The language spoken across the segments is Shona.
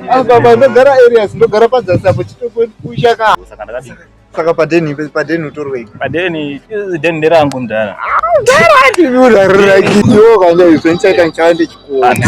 Apa ndogara areas ndogara padzasi apo chitokuisha ka. Saka ndakadii? Saka padeni padeni utorwei? Padeni deni nderangu mdara. Mdara ndimi urarira kiyo kana izvo ndichaita ndichava ndichikuona.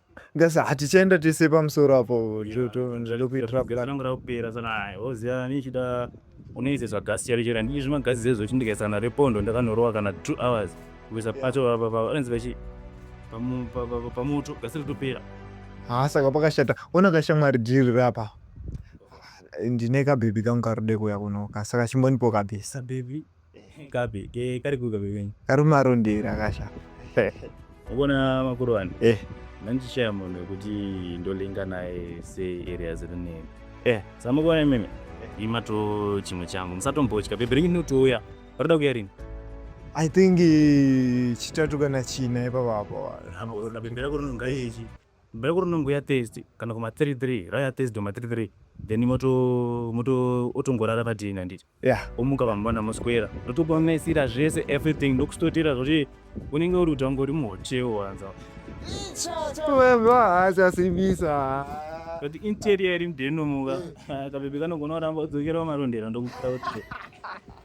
Ngasa hatichaenda tese pamusoro apo ndokupera sana oziva nichida unoise zvagasi chero chero handidi zvimagasi zezvo chindikaisana repondo ndakanorowa kana two hours kuisa pacho vanzi vachi pamoto gasi ritopera haa saka pakashata ona kashamwari dhiri rapa ndine kabhebhi kangu karode kuya kunoka saka chimbonipo kabhesa bhebhi Kapi, ke kari kuka bebenyi. Kari marondera kasha. Ukona makuru wani. Eh. Nandichaya munhu wekuti ndolinga naye se areas rinini. Eh. Samukona imimi. Eh. Ima to chimwe changu. Musatombotya. Bebe ringi notouya. Varida kuya rini. I think eh, chitatu kana china ipapo apo. Hapo, labembera kuno ngai ichi. Bhera kurinongo ya Thursday kana kuma 3 3 raya Thursday ma 3 3 then moto moto otongorara padini handiti yeah. omuka vamwana moswera ndotokumaisira zvese everything ndokustotera zvoti unenge uri kuti wangori muhotewo wanza asasimbisa kuti interior iri mdenomuka kabebe kanogona kuramba udzokera wamarondera ndokuita kuti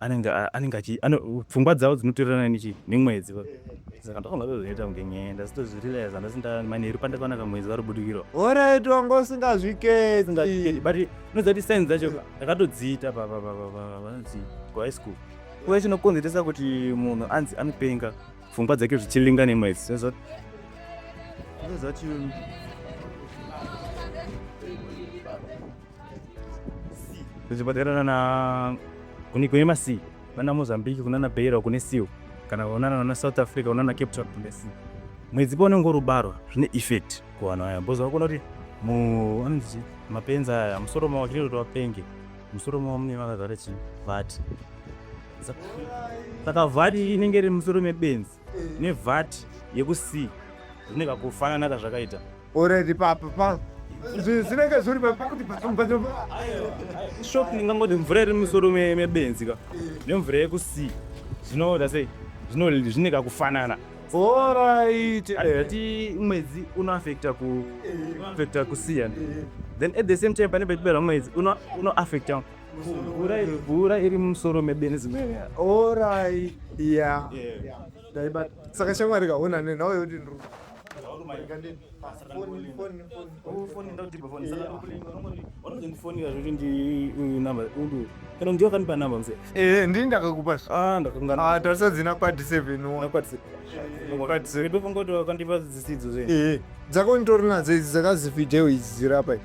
anenge anenge achi pfungwa dzavo dzinotorerana nechi nemwedzi saka ndofunga zvozoita kunge nyaya ndasitozvirealize handasi ndamaneru pandakaona kamwedzi vari budikirwa orit wanga usingazviketi but unoziva kuti sainzi dzacho ndakatodziita pavanzi kuhigh school kuve chinokonzeresa kuti munhu anzi anopenga pfungwa dzake zvichilinga nemwedzi sezvati tichibatirana na kune kune masi vana mozambique kunana beira kune siu kana vaonana vana south africa unana cape town kune siu mwedzi pa unenge urubarwa zvine effect kuvanhu aya bhoza vakona kuti mu anonzi mapenzi aya musoro mavo chiri kuti vapenge musoro mavo mune vakazara chivati saka vhati inenge iri musoro mebenzi nevat yekusi zvine kakufanana kazvakaita already papa pa zvinenge zviri pakuti shop ingangoti mvura iri musoro mebenzi ka nemvura yekusi zvinoda sei zvine kakufanana alright ati mwedzi unoaffecta kuaffecta kusiyana then at the same time pane petibera mwedzi unoaffecta mvura iri mvura iri mumusoro mebenzi orai ya ndaibata saka shamwari kaona ne nawe yoti ndru kana ndiyo kanipa namba mse eh ndini ndakakupa ah ndakanga ah tarisa dzina kwadi 7 wa kwadi 7 kwadi 7 before ngoto kandipa dzisidzo zve eh dzako nditori nadzo idzi dzakazi video idzi dzirapa idzi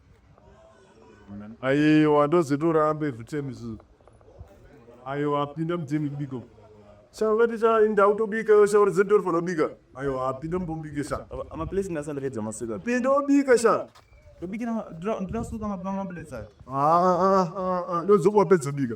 aiwa ndozitorambe zvitemisu aiwa apinda mutemi kubiko shavati cha ndau tobika yo shauri dzedu tori fanobika aiwa apinda mubombike sha amaplace ndasandapedza masika pinda obika sha ndobikira ndinasuka mabanga maplace ayo ndozokuwapedza bika